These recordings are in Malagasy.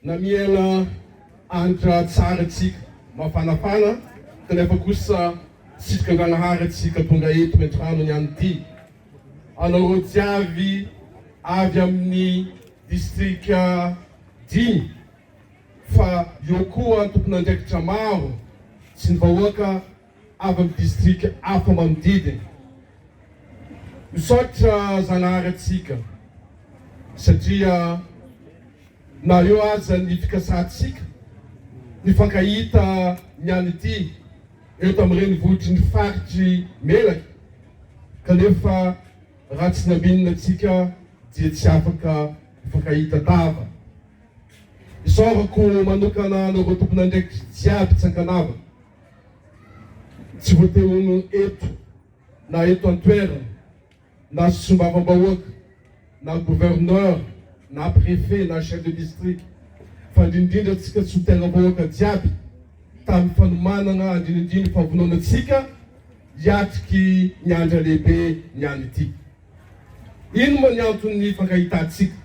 Na miaina andra tsara isika, mafanafana, kanefa kosa sitrika Andragnahary isika tonga eto entrano niany ty. Anareo jiaby avy aminy distrika dimy fa eo koa tompon'andraikitra maro sy ny vahoaka avy amin'ny distrika hafa manodidina. Misaotra Zanahary antsika satria na eo aza ny fikasantsika nifankahita ny any ity eo tamin'ny renivohitry ny faritry Melaky kanefa raha tsy naminina antsika dia tsy afaka nifankahita tava. Isaorako manokana anareo tompon'andraikitry jiaby tsy ankanavaka. Tsy voatery ho noho ny eto na eto an-toerana na sy solombavambahoaka na gouverneur na préfet na chef de district fa indrindrindra antsika solontenam-bahoaka jiaby tamin'ny fanomanana andrinindriny fahavonona antsika hiatriky ny andra lehibe ny any ity. Ino moa ny anton'ny hifankahitantsika?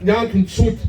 Ny antony tsotra.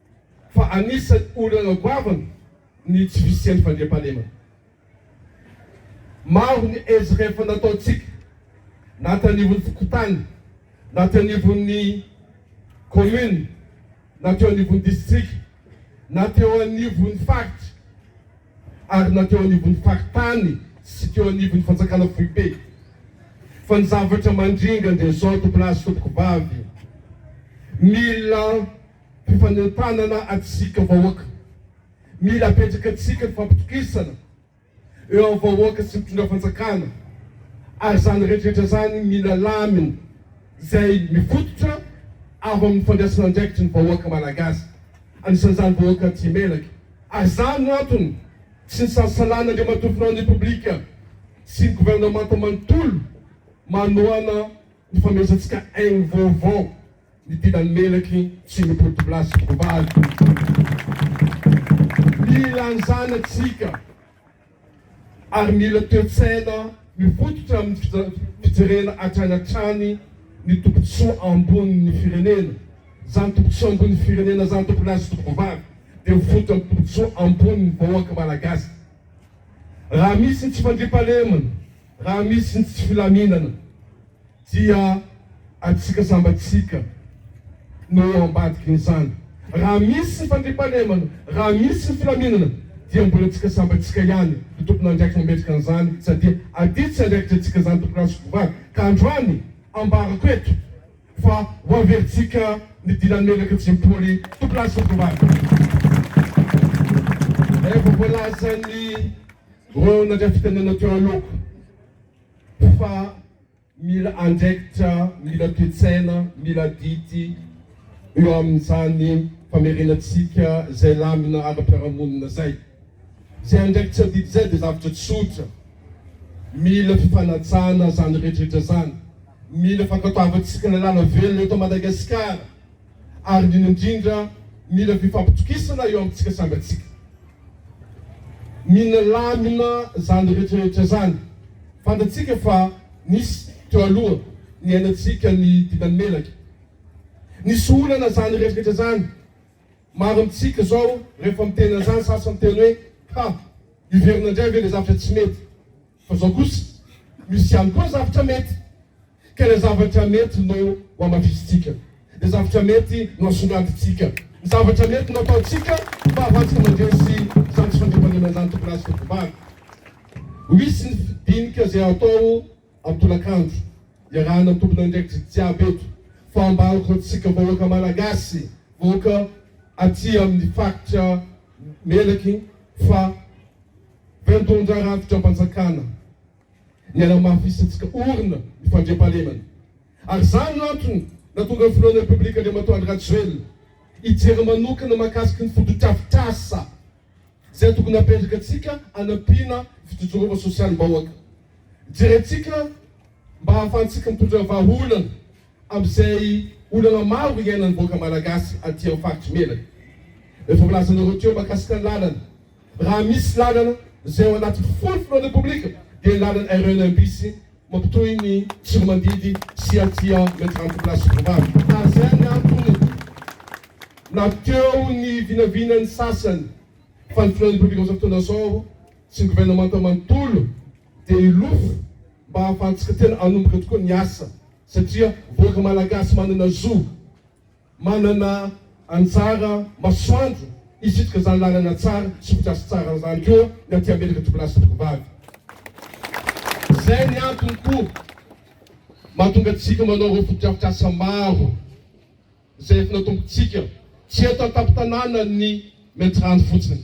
fa anisan'ny olana goavana ny tsy fisian'ny fandriampahalemana. Maro ny ezaka efa nataontsika na aty anivon'ny fokontany na aty anivon'ny kaominina na teo anivon'ny distrika na teo anivon'ny faritra ary na teo anivon'ny faritany sy teo anivon'ny fanjakana foibe fa ny zavatra mandringa dia izao tompon'ahy sy tompoko vavy mila Mpifanentanana antsika vahoaka. Mila apetraka antsika ny fampitokisana eo amin'ny vahoaka sy ny mpitondra fanjakana ary izany rehetrarehetra izany mila lamina izay mifototra avy amin'ny fandraisana andraikitry ny vahoaka malagasy anisan'izany vahoaka aty imelaka ary izany no antony tsy nisasalain'Andriamatoa Filohan'ny Repoblika sy ny governemanta manontolo manohana Nifanomezantsika haingo vaovao ny dilan'ny melaky sy ny boribola sy voavaly. Mila ny zanatsika ary mila toe-tsaina mifototra amin'ny fijerena hatrany hatrany ny tombotsoa ambonin'ny firenena. Izany tombotsoa ambonin'ny firenena izany, tompo lahy sy tompo vavy, dia mifototra amin'ny tombotsoa ambonin'ny vahoaka Malagasy. Raha misy ny tsy fandriampahalemana Raha misy ny tsy filaminana dia antsika samby antsika no eo ambadikin'izany. Raha misy ny fandriampahalemana, raha misy ny filaminana dia mbola antsika samby antsika ihany no tompon'andraikitra mametraka an'izany satria aty tsy andraikitry antsika izany tompon'andraikitra sy mpivady. Ka androany ambarako eto fa ho averintsika ny dilan'ny menaka tsy mimpoly tompon'andraikitra sy mpivady. Efa voalazan'ny. Vao nadrafita nanao teo aloako fa mila andraikitra, mila toe-tsaina, mila adidy eo amin'izany famerenantsika izay lamina ara-piarahamonina izay. Izay andraikitra adidy izay dia zavatra tsotra, mila fifanajana izany rehetrarehetra izany, mila fankatoavantsika lalàna velona eto Madagasikara. ary indrindra indrindra mila fifampitokisana eo amintsika samy atsika minalamina zany retraretra zany fantatsika fa nisy teo aloha niainatsika ny didany melaka nisy olana zany retraretra zany maro amintsika zao rehefa miteny anzany sasany teny hoe ha hiverina ndray ve le zavatra tsy mety Fa zao kosa, misy ihany koa zavtra mety, ka ilay zavatra mety no hohamafisintsika, ilay zavatra mety no hasongadintsika, ny zavatra mety no hataontsika ho fahavantsika mandresy izany tsy fandriampahalemana izany tokony hahazo fivovahana. Ho hisy ny dinika izay hatao amin'ny tolakandro, iarahana ny tomponandraikitra jiaby eto, fa mba ankoatsika vahoaka Malagasy, vahoaka aty amin'ny faritra melaky fa. Fandon-dra rafi-dram-panjakana ny hanamafisantsika orina ny fandriampahalemana ary izany no antony nahatonga ny Filohan'ny Repoblika Andriamatoa Andry Rajoelina hijery manokana mahakasika ny fotodrafitrasa izay tokony hapetraka antsika hanampiana ny fijojoroana sosialim-bahoaka. Jerentsika mba hahafahantsika mitondra vahaolana amin'izay olana maro iainan'ny vahoaka Malagasy aty amin'ny faritry Melaky izay voalazanareo teo mahakasika ny lalana. Raha misy lalana izay ao anaty fofona repoblika dia ny lalana RENM bis mampitohy ny Tsiromandidy sy aty à me trente place Vouvavy. Raha izay ny antony na teo ny vinavinan'ny sasany fa ny filohan'ny repoblika amin'izao fotoana izao sy ny governemanta manontolo dia hilofo mba hahafahantsika tena hanomboka tokoa ny asa satria vahoaka malagasy manana zo Manana anjara masoandro hisitrika izany lalana tsara sy fotodrafitrasa tsara izany koa ny aty Amerika Tovolahy sy Tovovavy. Izay ny antony koa mahatonga antsika manao ireo fotodrafitrasa maro izay efa natombontsika, tsy eto an-tampon-tanànan'ny Maintirano fotsiny.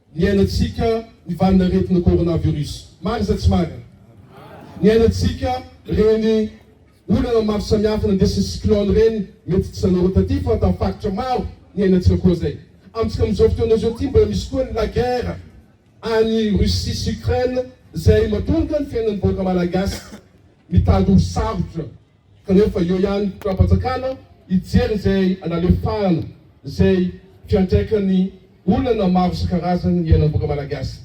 Niainantsika ny valin'aretina coronavirus. Marina sa tsy marina? Niainantsika ireny olana maro samihafa nandesin'ny cyclone ireny, mety tsy anareo taty fa tamin'ny faritra maro niainantsika koa izay. Amintsika amin'izao fotoana izao ity mbola misy koa ny la guerre any Russie sy Ukraine izay mahatonga ny fiainan'ny vahoaka malagasy mitady ho sarotra. kanefa eo ihany mpitondram-panjakana hijery izay analefahana izay fiantraikan'ny olana maro isan-karazany ny ainam-boka malagasy.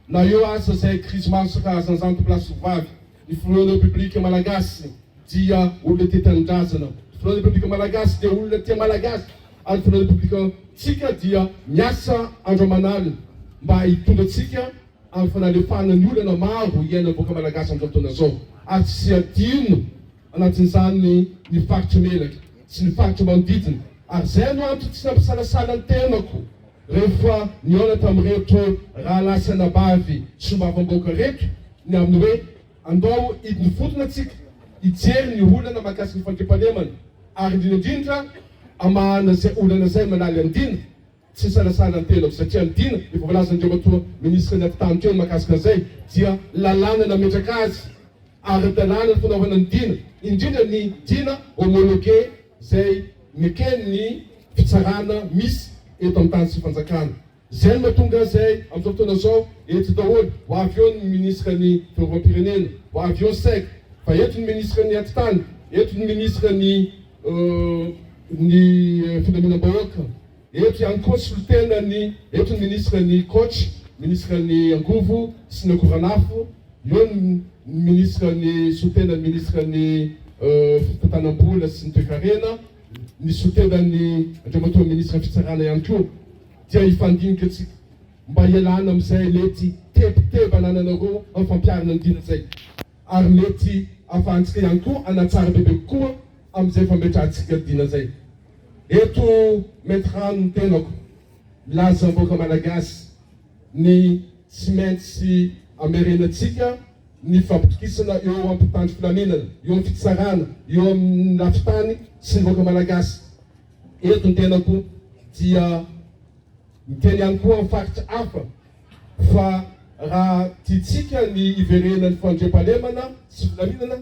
Na eo aza izay krizy maro isan-karazany izany tompo lahy sy tovovavy, ny filohan'ny repoblika malagasy dia olona tia tanindrazana, ny filohan'ny repoblika malagasy dia olona tia malagasy ary ny filohan'ny repoblikantsika dia miasa andro aman'alina mba hitondra antsika ary fa nalefahana ny olana maro iainan'ny vahoaka Malagasy amin'izao fotoana izao, ary tsy hadino anatin'izany ny faritry Melaky sy ny faritra manodidina, ary izay no antony tsy nampisalasala ny tenako rehefa nihaona tamin'ireto rahalahy sy anabavy solombavambahoaka ireto ny amin'ny hoe andao hidinfotona tsika hijery ny olana mahakasika ny fandriampahalemana ary indrindra indrindra hamahana izay olana izay manala ny dina Tsy nisalasala ny tenako satria ny Dina efa voalazan'Andriamatoa Minisitra ny Afotahan'ny Trano mahakasika an'izay dia lalàna nametraka azy ara-dalàna ny fanaovana ny Dina, indrindra ny Dina homologué izay neken'ny Fitsarana misy eto amin'ny tany sy Fanjakana. Izay no mahatonga izay amin'izao fotoana izao eto daholo, ho avy eo ny Minisitra ny Fiarovam-pirenena, ho avy eo ny Sec, fa eto ny Minisitra ny Atitany, eto ny Minisitra ny. ny filaminam-bahoaka. Eto ihany koa solotena ny eto ny ministra ny Coach, ministra ny angovo sy ny akoranafo, eo ny ministra ny solotena ministra ny fitantanam-bola sy ny toekarena, ny solotena ny Andriamatoa ministra fitsarana ihany koa. Dia hifandinika tsika mba hialana amin'izay mety tebiteby anananareo amin'ny fampiharana ny diana izay. ary mety afahantsika ihany koa hanatsara bebe kokoa amin'izay efa ametrahantsika dina izay. Eto maître rano ny tenako, milaza vahoaka Malagasy ny tsy maintsy hamerenantsika ny fampitokisana eo amin'ny mpitandro filaminana, eo amin'ny fitsarana, eo amin'ny lafin-tany sy ny vahoaka Malagasy. Eto ny tenako dia miteny ihany koa amin'ny faritra hafa. Fa raha tiantsika ny hiverenan'ny fandriampahalemana sy filaminana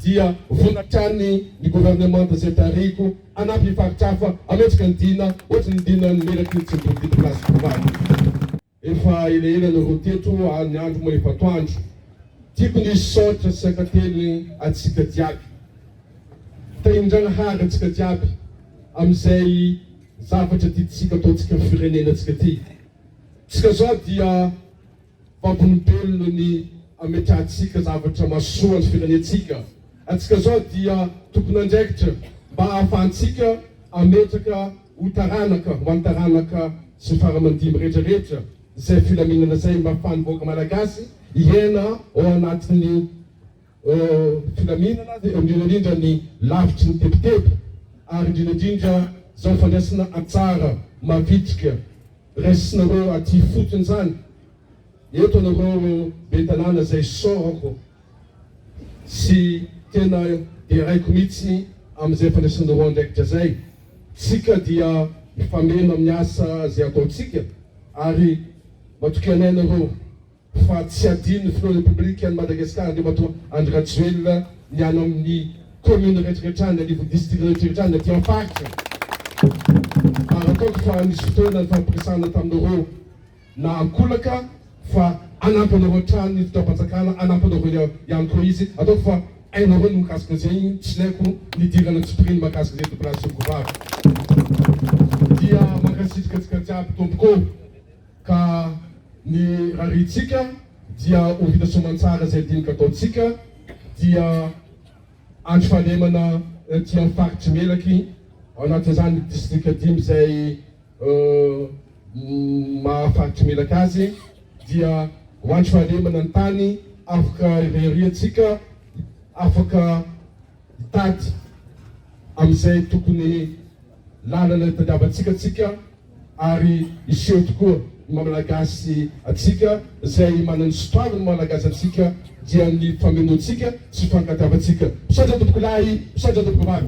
dia vonona hatrany ny governemanta izay tarihiko hanampy ny faritra hafa hametraka ny dina ohatry ny dinan'ny melaky ny tsimboly teto Place Borabory. Efa elaela no roa teto ary ny andro moa efa atoandro. Tiako ny hisaotra sy hankateliny antsika jiaby. Tahian-dRagnahary antsika jiaby amin'izay zavatra tiantsika ataontsika firenena antsika ity. Tsika zao dia vavolombelona ny ametrahantsika zavatra mahasoa ny firenentsika. Antsika zao dia tompon'andraikitra mba ahafahantsika ametraka ho taranaka ho any taranaka sy faramandimby rehetra rehetra zay filaminana zay mba afahan'ny vahoaka malagasy hiaina ao anatin'ny filaminana dia indrindra indrindra ny lavitry ny tebiteby ary indrindra indrindra izao fandraisana antsara mavitrika raisinareo aty ifotony izany eto anareo be tanàna izay saorako sy tena deraiko mihitsy amin'izay fandraisanareo andraikitra izay tsika dia mifameno amin'ny asa izay ataontsika ary matokia anay nareo fa tsy hadinon'ny filoha Repoblikan'i Madagasikara Andriamatoa Andry Rajoelina ny any amin'ny Commune rehetra rehetra any, anivon'ny Distrika rehetra rehetra any, aty amin'ny Faritra. Ary ataoko fa nisy fotoana nifampiresahana taminareo na an-kolaka fa hanampy anareo hatrany ny Fitondram-panjakana, hanampy anareo ihany koa izy. Ataoko fa hainareo ny mikasika izay, tsy ilaiko ny hidirana an-tsipiriany mahakasika izay Tompolahy sy Tompovavy. Dia mankasitrika antsika jiaby Tompoko. Ka ny rariantsika dia ho vita soamantsara izay dinika ataontsika dia andro fahalemana aty amin'ny faritry Melaky ao anatin'izany distrika dimy izay maha faritry Melaky azy dia ho andro fahalemana ny tany afaka ireriantsika afaka Mitady amin'izay tokony lalana hitadiavantsika tsika ary hiseho tokoa ny maha Malagasy antsika, izay manana ny sotoaviny ny maha Malagasy antsika dia ny famenoantsika sy fankatiavantsika. Misaotra tompoko lahy, misaotra tompoko vavy.